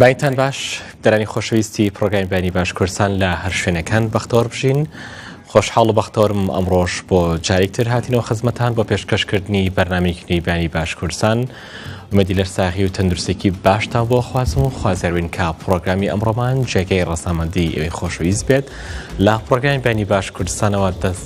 بینتان باش دەرانی خۆشەویستی پرۆگای بینی باش کوردستان لە هەر شوێنەکان بەختۆر بژین خۆشحاڵ و بەختۆرم ئەمڕۆژ بۆ جارێکتر هاتینەوە خزمەتان بۆ پێشکەشکردنی بەرنمێکی نیبانی باش کوردستان مەدی لەر ساغی و تەندروستێکی باشتا بۆ خوازم و خوازەروین کا پرۆگرامی ئەمڕۆمان جێگەی ڕسامەندی ئەوی خۆشەویست بێت لە پرۆگرامی بینی باش کوردستانەوە دەست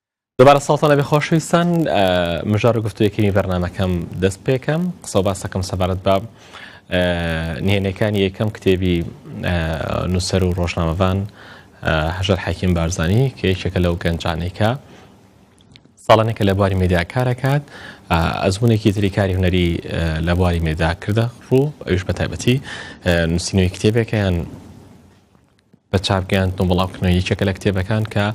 دوبارە ساڵتان لەبێ خۆشەویستان مژار و گفتوی کەمی بەرنمەکەم دەست پێکەم قسە باسەکەم سەبارەت بە نهێنەکانی یەکەم کتێبی نووسەر و ڕۆژنامەڤان هەژەر حەکیم بارزانانی کە یەکێکە لەو گەنجانێکە ساڵانێکە لە بواری مێدیا کارەکات ئەزمونێکی تری کاری هوەری لە بواری مێدا کردە ڕوو ئەوش بە تایبەتی نووسینەوەی کتێبێکە یان بە چاپ گەیاندن و بڵاو کردنەوە یەکێکە لە کتێبەکان کە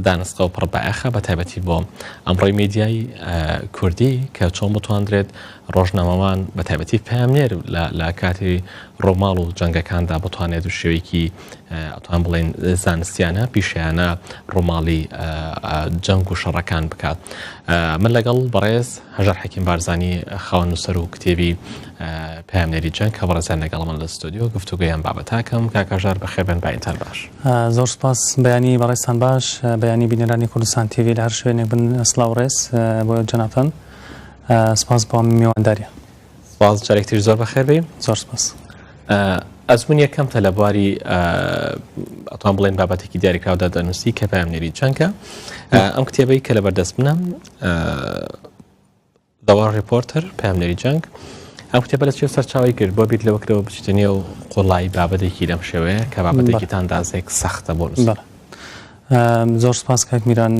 دانسقە و پڕ بایەخە بە تایبەتی بۆ ئەمڕۆی میدیای کوردی کە چۆن بتواندرێت ڕۆژنامەوان بە تایبەتی پامنێر لە کاتی ڕۆماڵ و جەنگەکاندا بتوانێت و شێوەیەکی ئەتوان بڵێن زانستیانە پیشیانە ڕۆماڵی جەنگ و شەڕەکان بکات من لەگەڵ بەڕێز هەژار حەکیم بارزانانی خاوەن نووسەر و کتێبی پەیامنێری جەنگ هەبەڕێزیان لەگەڵ من لە ستۆدیۆ گفتوگۆی ئەم بابەتاکەم کاکەژار بەخێبێن بەینتان باش زۆر سپاس بەیانی بەڕێستان باش بەیانی بینەرانی کوردستان تیوی لە هەر شوێنێک بن سلااو ڕێز بۆ جەناتان سپاس بۆ میوانداریە سپاس جارێکتر زۆر بەخێبی زۆر سپاس ئەزمون یەکەم تە لە بواری ئەتوان بڵێن بابەتێکی دیاریکراودا دەنووسی کە پامنێری چەنکە ئەم کتێبەی کە لە بەردەست منە The War Reporter، پەیامنێری جەنگ، ئەم کتێبە لە چێ سەرچاوەی گرت بۆ بیر لەوە کرەوە بچیتە نێو قوڵایی بابەتێکی لەم شێوەیە کە بابەتێکی تا ئەندازەیەک سەختە بۆ نووسەر؟ زۆر سپاس کاک میران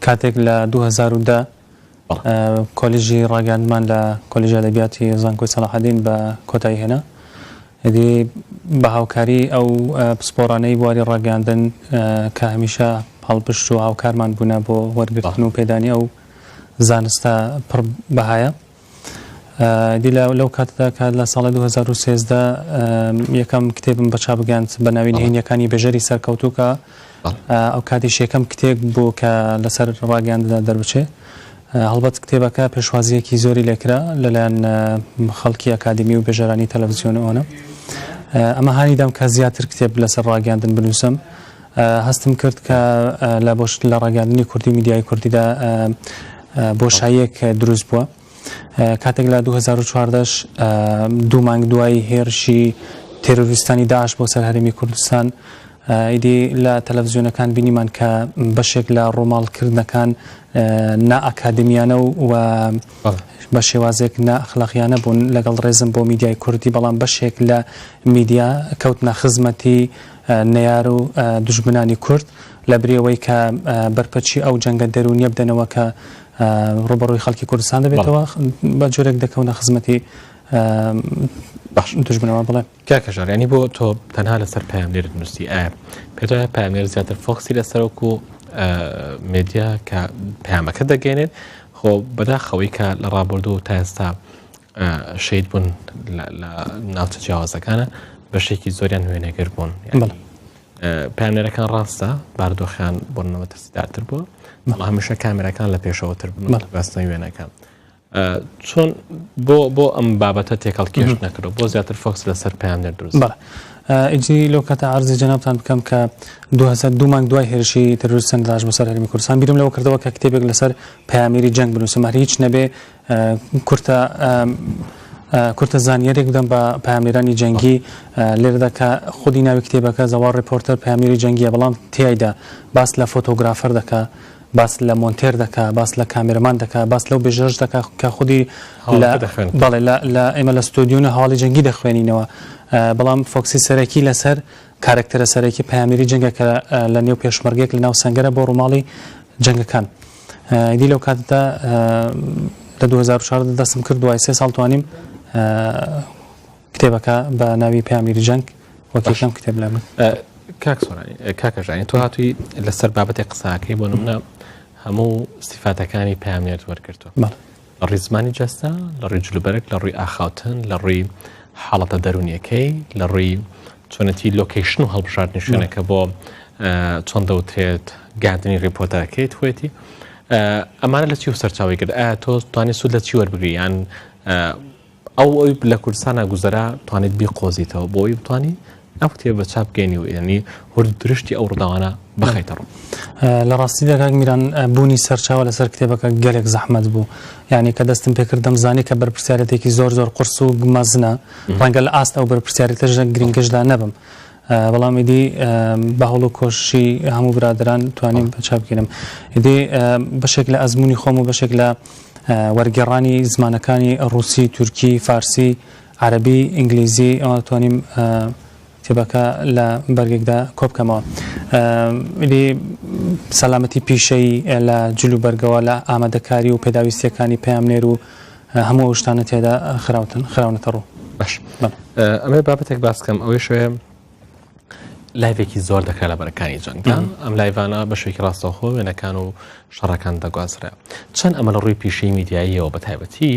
کاتێک لە 2010 کۆلیژی ڕاگەاندمان لە کۆلیژ ئەدەبیاتی زانکۆی سەلاحەدین بە کۆتایی هێنا دی بە هاوکاری ئەو پسپۆرانەی بواری ڕاگەاندن کە هەمیشە هەڵپشت و هاوکارمان بوونە بۆ وەرگرتن و پێدانی ئەو زانستە پڕ بەهایە. دی لەو کاتدا کە لە ساڵی 2013 یەکەم کتێبم بە چابگەاند بە ناوی نهێنیەکانی بێژەری سەرکەوتو کە ئەو کاتیش یەکەم کتێک بوو کە لەسەر ڕاگەانددا دەربچێ هەڵبەت کتێبەکە پێشوازیەکی زۆری لێکرا لەلایەن خەڵکی ئەکادمی و بێژەرانی تەلەڤزیۆن ئەوەنە ئەمە هانی دام کە زیاتر کتێب لەسەر ڕاگەاندن بنووسم هەستم کرد کە لە بۆ لە ڕاگەیاندنی کوردی و میدیای کوردیدا بۆشاییەک دروست بووە کاتێک لە 2014 دوو مانگ دوای هێرشی تێرۆریستانی داعش بۆ سەر هەرێمی کوردستان ئیدی لە تەلەڤزیۆنەکان بینیمان کە بەشێک لە ڕۆماڵکردنەکان نائاکادمیانە و و بە شێوازێک ناخلاقیانە بوون لەگەڵ ڕێزم بۆ میدیای کوردی بەڵام بەشێک لە میدیا کەوتنە خزمەتی نەیار و دوژمنانی کورد، لەبری ئەوەی کە بەرپەچی ئەو جەنگە دەروونییە بدەنەوە کە ڕووبەڕووی خەڵکی کوردستان دەبێتەوە، بە جۆرێک دەکەونە خزمەتی دوژمنەوە. بەڵێ. کاکە ژار، یانی بۆ تۆ تەنها لەسەر پەیامنێرت نووسی؟ ئایا پێت وایە پەیامنێر زیاتر فۆکسی لەسەر وەکو مێدیا کە پەیامەکە دەگەێنێت؟ خۆ بەداخەوەی کە لە ڕابردوو و تا ئێستا شەید بوون لە ناوچە جیاوازەکانە بەشێکی زۆریان وێنەگر بوون پامێرەکان ڕاستە باردۆخیان بۆنەوە ترسدارتر بووە مەڵ هەمیشە کامێرەکان لە پێشەوەتر بەستنەوەی وێنەکان چۆن بۆ بۆ ئەم بابەتە تێکەڵ کێش نەکرو بۆ زیاتر فۆکس لەسەر پامێر دروست ئیجی لەو کاتە ئارزی جەنابان بکەم کە 2002 مانگ دوای هێرشی تەرورسن داش بەسەر هەرمی کوردستان بیرم لەوە کردەوە کە کتێبێک لەسەر پامێری جەنگ بنووسماری هیچ نەبێ کورتە کورتە زانیاریێک بدەم بە پامێرانی جەنگی لێردا کە خودی ناوی کتێبەکە زەوا ڕپۆرتەر پامێری جەنگیە بەڵام تایدا باس لە فۆتۆگرافەر دەکە باس لە مۆنتێر دەکە باس لە کامێرمان دەکە باس لەو بێژەش دەکە کە خودی بەڵێ لە ئێمە لە ستۆدیۆنە هەواڵی جەنگی دەخوێنینەوە بەڵام فۆکسی سەرەکی لەسەر کارکتەرە سەرەکی پامێری جەنگە کە لە نێو پێشمەرگێک لە ناو سنگەرە بۆ ڕووماڵی جەنگەکان. ئیدی لەو کاتەدا لە 2014 دەستم کرد دوای سێ ساڵ توانیم کتێبەکە بە ناوی پامیری جەنگ وەکیشم کتێب لە من کاکەژانی تو هاتووی لەسەر بابەتی قساکەی بۆ نمونە هەموو سیفاتەکانی پامێت وەرگتو لە ڕووی زمانی جەستە، لە ڕووی جلوبەرگ، لە ڕووی ئاخاوتن، لە ڕووی حاڵەتە دەروونیەکەی، لە ڕووی چۆنێتی لۆکەیشن و هەڵبژاردنی شوێنەکە بۆ چۆن دەوترێت گاردنی ڕیپۆرتەکەی توێتی ئەمانە لە چی و سەرچاوی کرد ئایا تۆ توانانی سوود لە چی وەربگریان ئەو ئەوی لە کوردستانا گوزەرا توانیت بیقۆزیتەوە بۆی بتانی ئەو کتێبە چاپ بکەینی و ینی هورد درشتی ئەو ڕداوانە بخیتە ڕوو لە ڕاستی دەکات میران بوونی سەرچاوە لەسەر کتێبەکە گەلێک زەحمت بوو یعنی کە دەستم پێکردم زانی کە بەرپسیارەتێکی زۆر زۆر قرس و گمەزنە ڕەنگە لە ئاست ئەو بەرپسیارەتەژە گرنگشدا نەبم. بەڵام ئیدی بە هەوڵ و کۆششی هەموو برادەران توانیم چابگیرم ئیدی بەشێک لە ئەزموونی خۆم و بەشێک لە وەرگێڕانی زمانەکانی ڕووسی تورکی فارسی عەرەبی ئینگلیزی ئەوە توانیم کتێبەکە لە بەرگێکدا کۆبکەمەوە ئیدی سەلامەتی پیشەیی لە جل و بەرگەوە لە ئامادەکاری و پێداویستیەکانی پەیامنێر و هەموو ئەو شتانە تێدا خراوتن خراونەتە ڕوو باش ئەمە بابەتێک باسکەم ئەوەی شوێ لایڤێکی زۆر دەکرا لە بەرەکانی جەنگدا ئەم لایڤانە بە شوێکی ڕاستەوخۆ وێنەکان و شەڕەکان دەگوازرا چەند ئەمە لە ڕووی پیشەی میدیاییەوە بە تایبەتی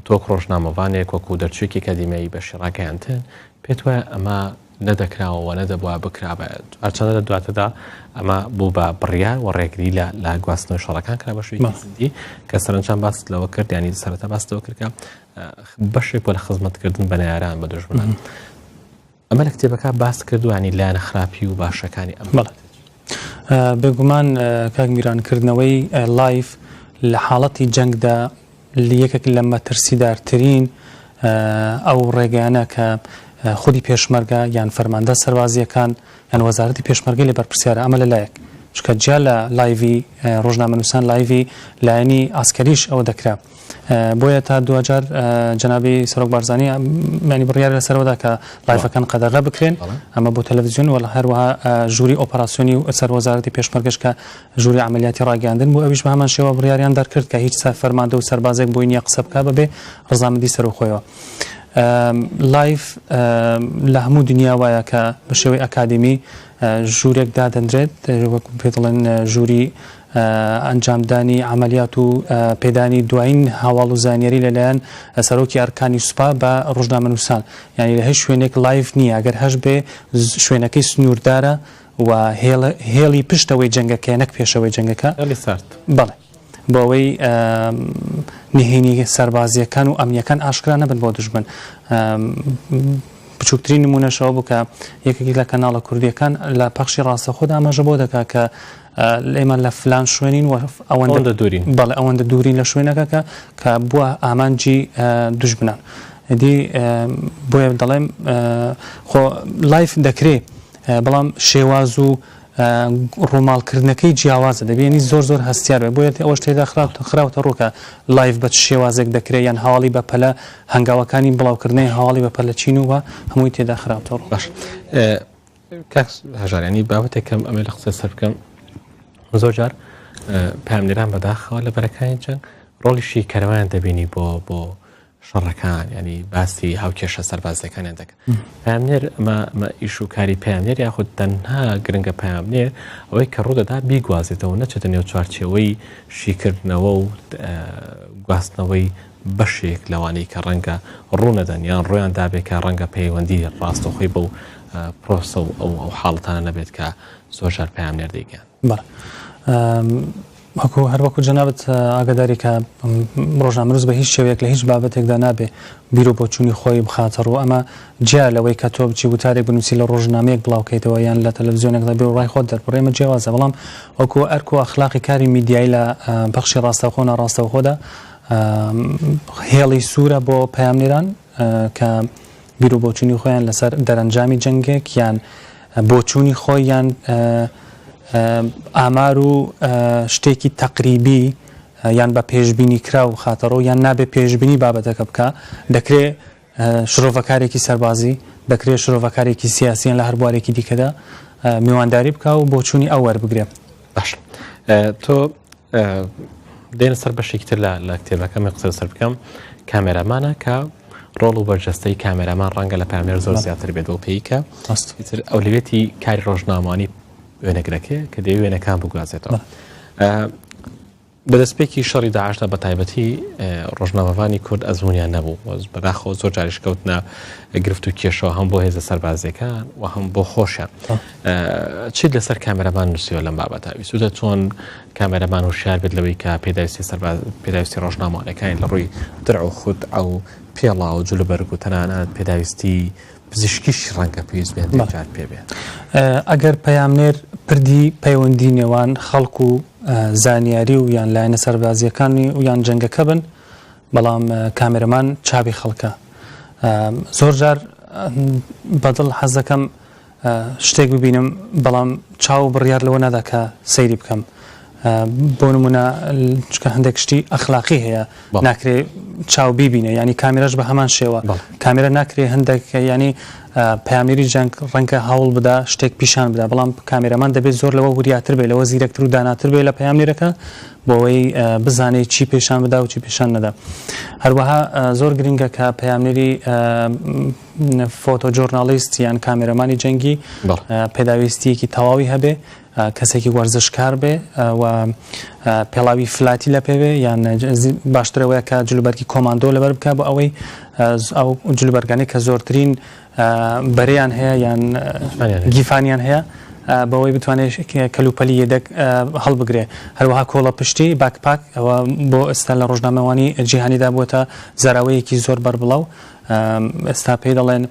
تۆک ڕۆژنامەوانێک وەکو دەرچوێکی کەدیمایی بەشی ڕاگەیاندن پێت وایە ئەمە نەدەکراوە و نەدەبوایە بکرابایەت. هەرچەندە لە دواتردا ئەمە بوو بە بڕیار و ڕێگری لە لە گواستنەوەی شەڕەکان کرا بە شێوەیەکی جدی کە سەرەنجام باست لەوە کرد یانی سەرەتا باست لەوە کرد کە بەشێک بۆ لە خزمەتکردن بە نەیاران بە دژمنان ئەمە لە کتێبەکە باست کردوانی لایەنە خراپی و باشەکانی ئەم بەڵێ بێگومان کاک میرانکردنەوەی لایف لە حاڵەتی جەنگدا یەکێک لە مەترسیدارترین ئەو ڕێگەیانە کە خودی پێشمەرگە یان فەرماندە سەربازییەکان یان وەزارەتی پێشمەرگەی لێ بەرپرسیارە، ئەمە لە لایەک، چونکە جیا لە لایڤی ڕۆژنامەنووسان لایڤی لایەنی عەسکەریش ئەوە دەکرا. بۆیە تا دواجار جەنابی سەرۆک بارزانی یانی بڕیارە لەسەر ئەوەدا کە لایڤەکان قەدەغە بکرێن، ئەمە بۆ تەلەڤزیۆن و هەروەها ژووری ئۆپەراسیۆنی سەر وەزارەتی پێشمەرگەش کە ژووری عەمەلیاتی ڕاگەیاندن بوو، ئەویش بە هەمان شێوە بڕیاریان دەرکرد کە هیچ فەرماندە و سەربازێک بۆی نییە قسە بکا بەبێ ڕەزامەندی سەرۆ خۆیەوە. لایڤ، لە هەموو دنیا وایە کە بە شێوەی ئەکادیمی ژوورێک دادەنرێت، وەکو پێ دەڵێن ژووری ئەنجامدانی عەمەلیات و پێدانی دوایین هەواڵ و زانیاری لەلایەن سەرۆکی ئەرکانی سوپا بە ڕۆژنامەنووسان، یانی لە هیچ شوێنێک لایڤ نییە، گەر هەشبێ شوێنەکەی سنووردارە و هێڵی پشتەوەی جەنگەکەیە نەک پێشەوەی جەنگەکە. هێڵی سارد. بەڵێ. بۆ ئەوەی نهێنی سەربازییەکان و ئەمنییەکان ئاشکرا نەبن بۆ دوژمن. بچووکترین نموونەش ئەوە بوو کە یەکێک لە کەناڵە کوردییەکان لە پەخشی ڕاستەخۆدا ئاماژە بۆ دەکات کە ئێمە لە فلان شوێنین و ئەوەندە دوورین بەڵێ ئەوەندە دوورین لە شوێنەکە کە کە بووە ئامانجی دوژمنان دی بۆیە دەڵێم خۆ لایف دەکرێ بەڵام شێواز و ڕووماڵکردنەکەی جیاوازە دەبێنی زۆر زۆر هەستیار بێت بۆیە ئەوەش تێدا خراوتە ڕوو کە لایڤ بە چ شێوازێک دەکرێت یان هەواڵی بەپەلە هەنگاوەکانی بڵاوکردنەوەی هەواڵی بەپەلە چین و هەمووی تێدا خراوتە ڕوو باش هەژارانی بابەتێکم ئەمە لە قسە سەر بکەم زۆر جار پامنێران بەداخەوە لە بەرەکانی جەنگ ڕۆڵیشی کەروان دەبینی بۆ بۆ شەڕەکان یعنی باسی هاوکێشە سەربازیەکانیان دەکەن پامنێر ئەمە ئیش و کاری پامنێر یاخود تەنها گرنگە پامنێر ئەوەی کە ڕوودەدا بیگوازێتەوە نەچێتە نێو چوارچەوەی شیکردنەوە و گواستنەوەی بەشێک لەوانەی کە ڕەنگە ڕوونەدەن یان ڕۆیان دابێکە ڕەنگە پەیوەندی ڕاستەخۆی بەو پرۆسە و ئەو ئەو حاڵتانە نەبێت کە زۆر ژار پامنێر دەیگەن بەڵێ وەکو هەر وەکو جەنابت ئاگاداری کە ڕۆژنامەنووس بە هیچ شێوەیەک لە هیچ بابەتێکدا نابێ بیر و بۆچوونی خۆی بخاتە ڕوو ئەمە جیا لەوەی کە تۆ بچی وتارێک بنووسی لە ڕۆژنامەیەک بڵاوکەیتەوە یان لە تەلەڤزیۆنێکدا بێ و ڕای خۆت دەربڕی ئەمە جیاوازە بەڵام وەکو ئەرک و ئەخلاقی کاری میدیایی لە بەخشی ڕاستەوخۆ و ناڕاستەوخۆدا هێڵی سوورە بۆ پەیامنێران کە بیرو بۆچونی خۆیان لەسەر دەرەنجامی جەنگێک یان بۆچوونی خۆی یان ئامار و شتێکی تەقریبی یان بە پێشببینی کرا و خاتەڕۆ یان نابێ پێشببینی بابەتەکە بکە دەکرێ شرۆڤەکارێکی سەربازی دەکرێ شرۆڤەکارێکی سیاسیان لە هەربارێکی دیکەدا میوانداری بکە و بۆچوونی ئەوەر بگرێ باش تۆ دێنە سەر بەشێکی تر لە کتێبەکە من قسە سەر بکەم کامێرامانە کە ڕۆڵ و بەرجەستەی کامێرامان ڕەنگە لە پامێر زۆر زیاتر بێت و پێیکە ئەستتر ئەو لەوێتی کاری ڕۆژنامانی وێنەگرەکەی کە دەوێ وێنەکان بگوازێتەوە لە دەستپێکی شەڕی داعشدا بە تایبەتی ڕۆژنامەڤانی کورد ئەزمونیان نەبوو بەداخەوە زۆر جاریش کەوتنە گرفت و کێشەوە هەم بۆ هێزە سەربازیەکان و هەم بۆ خۆشیان چیت لەسەر کامێرەبان نووسیوە لەم بابەتا ویسودە چۆن کامێرەبان و شار بێت لەوەی کە پێداویستی سەرباز پێداویستی ڕۆژنامەوانەکانی لە ڕووی درع و خود ئەو پێڵا و جلوبەرگ و تەنانەت پێداویستی پزیشکیش ڕەنگە پێویست بێت بەڵێ جار پێ بێت. ئەگەر پەیامنێر پردی پەیوەندی نێوان خەڵک و زانیاری و یان لایەنە سەربازییەکانی و یان جەنگەکە بن بەڵام کامێرەمان چاوی خەڵکە زۆر جار بەدڵ حەز دەکەم شتێک ببینم بەڵام چاو بڕیار لەوە نادا کە سەیری بکەم بۆ نمونە چکە هەندێک شتی ئەخلاقی هەیە ناکرێ چاو بیبینێ ینی کامیرش بە هەمان شێوە کامیرە ناکرێ هەندێک ینی پامێری جەنگ ڕەنکە هەوڵ بدا شتێک پیشان بدا بەڵام کامیرەمان دەبێت زۆر لەوە وریاتر بێ لەوە زیرەکتر و داناتر بێ لە پامێرەکە بۆەوەی بزانێت چی پیشان بدا و چی پیشان نەدا هەروەها زۆر گرنگە کە پامێری فۆتۆ جۆرنالیست یان کامیرەمانی جەنگی پێداویستیەکی تەواوی هەبێ کەسێکی وەرزشکار بێ و پێڵاوی فلاتی لە پێ بێ یان باشترە وەیە کە جلوبەرگی کۆماندۆ لەبەر بکە بۆ ئەوەی ئەو جلوبەرگانی کە زۆرترین بەریان هەیە یان گیفانیان هەیە بەوەی بتوانێت کەلوپەلی یەدەک هەڵبگرێ هەروەها کۆڵە پشتی باکپاک ئەوە بۆ ئێستا لە ڕۆژنامەوانی جیهانیدا بووە زاراوەیەکی زۆر بەربڵاو ئێستا پێی دەڵێن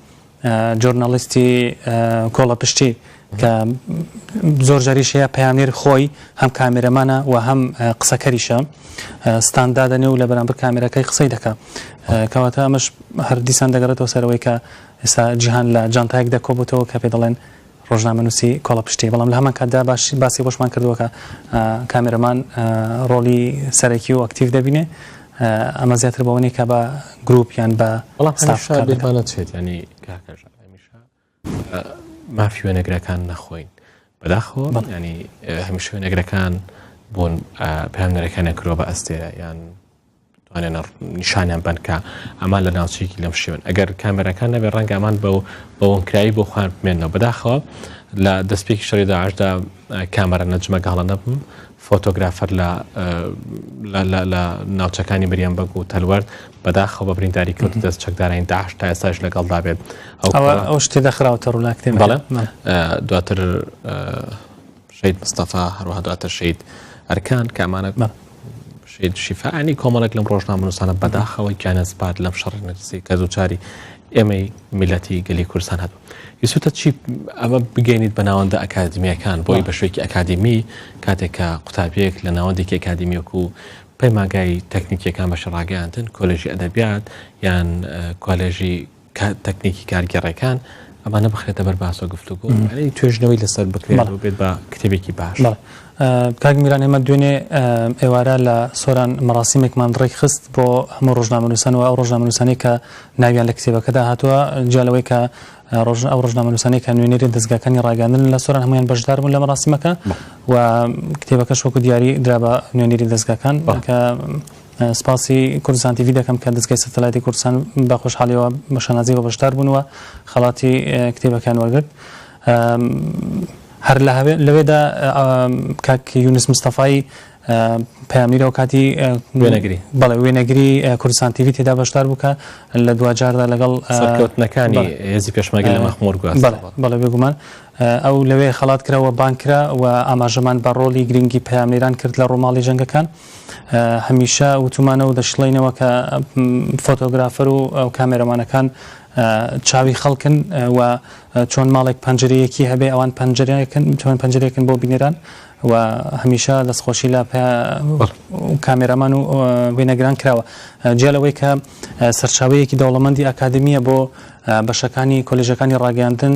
جۆرنالیستی کۆڵەپشتی کە زۆر جاریش هەیە پەیامنێر خۆی هەم کامێرەمانە و هەم قسەکەریشە ستاندا دەنێ و لە بەرامبەر کامێرەکەی قسەی دەکە کەواتە ئەمەش هەردیسان دەگەڕێتەوە سەرەوەی کە ئێستا جیهان لە جانتایەک دەکۆبوتەوە کە پێ دەڵێن ڕۆژنامەنووسی کۆڵەپشتی، بەڵام لە هەمان کاتدا باش باسی ئەوەشمان کردووە کە کامێرەمان ڕۆڵی سەرەکی و ئەکتیڤ دەبینێ، ئەمە زیاتر بە ئەوەنیە کە بە گرووپ یان بە بەڵام ستاف هەمیشە کار دەکات. بیرمان نەچێت یانی کاکە ژان هەمیشە بە مافی وێنەگرەکان نەخۆین بەداخەوە بەڵێ. یانی هەمیشە وێنەگرەکان بوون پەیامنەرەکانیان کردووە بە ئەستێرە یان توانێنە نیشانیان بنکە ئەمان لە ناوچەیەکی لەم شێوەن ئەگەر کامێرەکان نەبێ ڕەنگامان بە بەوەنکراوی بۆ خۆیان بمێنەوە بەداخەوە لە دەستپێکی شەڕی داعشدا کامەرە نەجمە گەڵە نەبم فۆتۆگرافەر لە لە ناوچەکانی مریان بەگ و تەلوەرد بەداخە بە برینداری کەوت دەست چەکدارین داعش تا ئێستاش لەگەڵدا بێت ئەو شتێ دەخراوتە ڕووناکتێن بەڵێ دواتر شەید مستەفا هەروەها دواتر شەید ئەرکان کە ئەمانە بە شەید شیفاانی کۆمەڵێک لەم ڕۆژنامەنووسانە بەداخەوەی کیانە سپارد لەم شەڕ نرسی کە زوچاری ئێمەی میلەتی گەلی کوردستان هەبوو یسوتە چی ئەمە بگەینیت بە ناوەندە ئەکادمیەکان بۆی بە شوێکی ئەکادمی کاتێکە قوتابیەک لە ناوەندێکی ئەکادمیەک و پەیماگای تەکنیکیەکان بە شڕاگەیاندن کۆلژی ئەدەبیات یان کۆلێژی تەکنیکی کارگێڕێکان ئەمانە بخرێتە بەر باس و گفتو گۆ توێژنەوەی لەسەر بکرێت و بێت بە کتێبێکی باش کاک میران ئێمە دوێنێ ئێوارە لە سۆران مەڕاستیمێکمان ڕێک خست بۆ هەموو ڕۆژنامەنووسان و ئەو ڕۆژنامەنووسانی کە ناویان لە کتێبەکەدا هاتووە جالەوەی کە ڕۆژ ئەو ڕۆژنامەنووسانی کە نوێنەری دەستگاکانی ڕاگەاندن لە سۆران هەمویان بەشدار بوون لە مەڕاستیمەکە و کتێبەکەش وەکو دیاری درا بە نوێنەری دەستگاکان کە سپاسی کوردستان تیڤی دەکەم کە دەزگای سەتەلایتی کوردستان بە خۆشحالیەوە بە شانازیەوە بەشدار بوون و خەڵاتی کتێبەکەیان وەرگرت. هەر لەوێدا کاک یونس مستەفای پەیامیرەوە کاتی وێنەگری بەڵێ وێنەگری کوردستان تیوی تێدا بەشدار بووکە لە دوجاردا لەگەڵ سەرکەوتنەکانی هێزی پێشمەگە لە مەخمۆر بەڵێ بێگومان ئەو لەوێ خەڵات کراوە بانکرا و ئاماژەمان بە ڕۆلی گرنگی پەیامێران کرد لە ڕۆماڵی جەنگەکان. هەمیشە وتومانە و دەشڵێینەوە کە فۆتۆگرافەر و کامێرەمانەکان چاوی خەڵکن و چۆن ماڵێک پەنجەرەیەکی هەبێ ئەوان پەنجەرەکەن چۆن پەنجەرێکن بۆ بینێران و هەمیشە دەستخۆشی لە کامێرامان و وێنەگران کراوە جیا لەوەی کە سەرچاوەیەکی دەوڵەمەندی ئاکادمیە بۆ بەشەکانی کۆلژەکانی ڕاگەاندن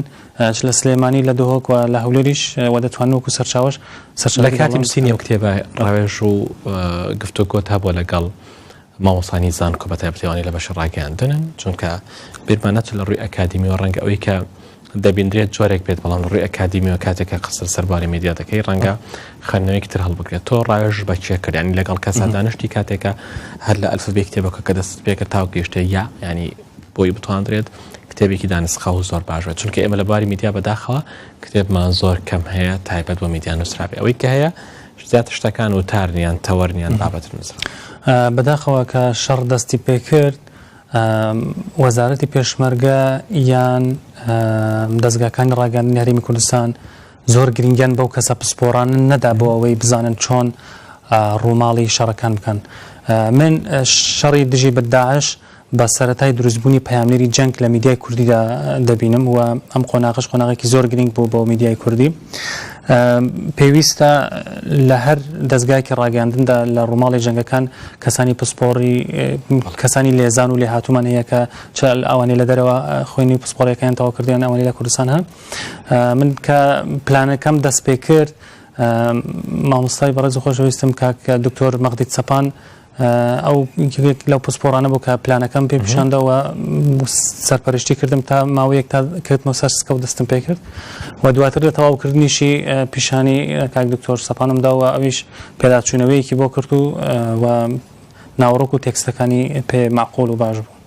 چ لە سلێمانی لە دهۆک و لە هەولێریش وە دەتوان وەکو سەرچاوەش سەرچاوە لە کاتی نووسینی ئەو کتێبە ڕاوێژ و گفتوگۆت هەبووە لەگەڵ مامۆستانی زانکۆ بە تایبەتیوانی لە بەشی ڕاگەیاندنن چونکە بیرمان نەچێت لە ڕووی ئەکادیمی و ڕەنگە ئەوەی کە دەبیندرێت جۆرێک بێت بەڵام ڕووی ئەکادیمی و کاتێکە قسە سەرباری میدیا دەکەی ڕەنگە خوێندنەوەیەکی تر هەڵبگرێت تۆ ڕاوێژ بە چیە کردیانی لەگەڵ کەسا دانیشتی کاتێکە هەر لە ئەلفبێ کتێبەکە کە دەست پێکە تاو گەشتە یا ینی بۆی بتواندرێت کتێبێکی دانسقاو و زۆر باش بێت چونکە ئێمە لە بواری میدیا بەداخەوە کتێبمان زۆر کەم هەیە تایبەت بۆ میدیا نووسرابێ ئەوەی کە هەیە زیاتر شتەکان و تارنیان تەوەرنیان بابەت نووسرا بەداخەوە کە شەڕ دەستی پێکرد وەزارەتی پێشمەرگە یان دەستگاکانی ڕاگەاندنی هەرمی کوردستان زۆر گرنگیان بەو کەسە پسپۆران نەدا بۆ ئەوەی بزانن چۆن ڕووماڵی شەڕەکان بکەن من شەڕی دژی بەداعش بە سەرەتای دروستبوونی پەیامنێری جەنگ لە میدیای کوردیدا دەبینم و ئەم قۆناغەش قۆناغێکی زۆر گرینگ بوو بۆ میدیای کوردی. پێویستە لە هەر دەزگایەکی ڕاگەیاندندا لە ڕووماڵی جەنگەکان کەسانی پسپۆڕی کەسانی لێزان و لێهاتوومان هەیە کە چ ئەوانەی لە دەرەوە خوێنی و پسپۆڕیەکەیان تەواو کردیان ئەوانەی لە کوردستان هەن من کە پلانەکەم دەست پێ کرد مامۆستای بەڕێز و خۆشەویستم کاک دکتۆر مەغدید سەپان ئەو یەکێک لەو پسپۆڕانە بوو کە پلانەکەم پێ پیشاندا و سەرپەرشتی کردم تا ماوەیەک تا کردمە سەر سکە و دەستم پێ کرد و دواتر لە تەواوکردنیشی پیشانی کاک دکتۆر سەپانم داوە ئەویش پێداچوونەوەیەکی بۆ کرد و و ناوەڕۆک و تێکستەکانی پێ معقۆل و باش بوو.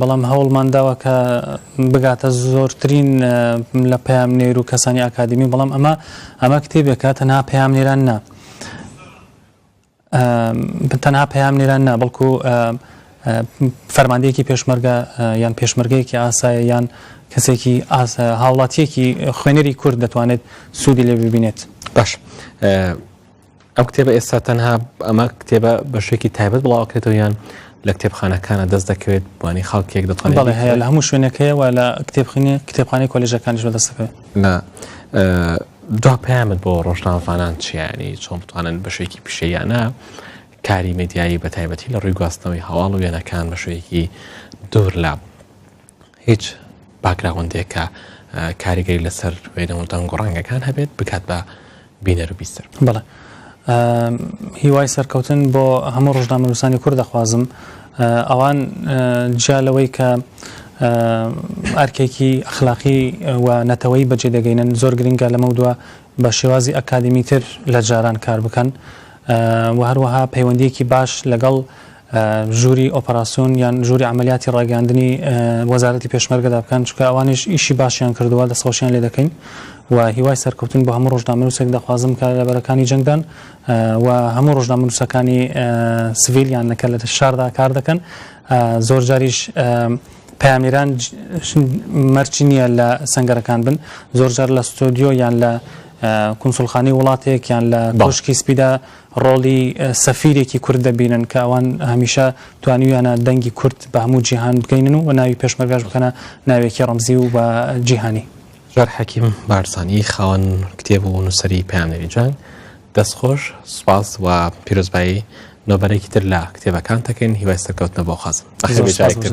بەڵام هەوڵمان داوە کە بگاتە زۆرترین لە پەیامنێر و کەسانی ئاکادمی، بەڵام ئەمە ئەمە کتێبێکە تەنها پەیامنێران نا تەنها پەیامنێران نا بەڵکو فەرماندەیەکی پێشمەرگە یان پێشمەرگەیەکی ئاسایە یان کەسێکی هاوڵاتیەکی خوێنەری کورد دەتوانێت سوودی لێ ببینێت باش ئەو کتێبە ئێستا تەنها ئەمە کتێبە بە شێکی تایبەت بڵاوکرێتەوە یان لە کتێبخانەکانە دەست دەکەوێت بانی خاڵکێک دەتوانێت بەڵێ هەیە لە هەموو شوێنەکەیەوە لە کتێبخینی کتێبخانی کۆلژەکانیش بە دەستەکەوێت لە دو پامت بۆ ڕۆژناوانان چیانی چۆن بتوانن بە شێکی پیشەیانە کاری مدیایی بە تایبەتی لە ڕووی گواستنەوەی هەواڵ و وێنەکان بە شوێکی دوور لە هیچ باکگراوندێک کە کاریگەری لەسەر وێنە و دەنگ و ڕەنگەکان هەبێت بکات بە بینەر و بیستەر بڵێ هیوای سەرکەوتن بۆ هەموو ڕژنامەنووسانی کورد دەخوازم ئەوان جیا لەوەی کە ئەرکێکی ئەخلاقی و نەتەوەی بەجێ دەگەینن زۆر گرنگە لەمە دووە بە شێوازی ئەکادیمیتر لە جاران کار بکەن و هەروەها پەیوەندیەکی باش لەگەڵ ژووری ئۆپەراسسیۆن یان ژووری عملیاتی ڕاگەاندنی وەزارەتی پێشمەرگەدا بکەن چکە ئەوانش ئیشی باشیان کردووە دەسەۆشیان لێ دەکەین و هیوای سەرکەوتن بۆ هەموو ڕۆژنامەنووسێک دەخوازم کە لە بەرەکانی جەنگدان و هەموو ڕۆژنامەنووسەکانی سڤیلیان نەکە لە شاردا کار دەکەن زۆر جاریش پەیامنێران مەرجی نییە لە سەنگەرەکان بن، زۆرجار لە ستۆدیۆ یان لە کونسوڵخانەی وڵاتێک یان لە کۆشکی سپیدا ڕۆڵی سەفیرێکی کورد دەبینن کە ئەوان هەمیشە توانیویانە دەنگی کورد بە هەموو جیهان بگەینن و ناوی پێشمەرگاش بکەنە ناوێکی ڕەمزی و بە جیهانی. جار حەکیم بارزانی خاوەن کتێب و نووسری پەیامنێری جەنگ دەستخۆش سپاس و پیرۆزبایی نۆبەرێکی تر لە کتێبەکان دەکەین هیوای سەرکەوتنە بۆ خەزم بەخێر بێ جارێکتر.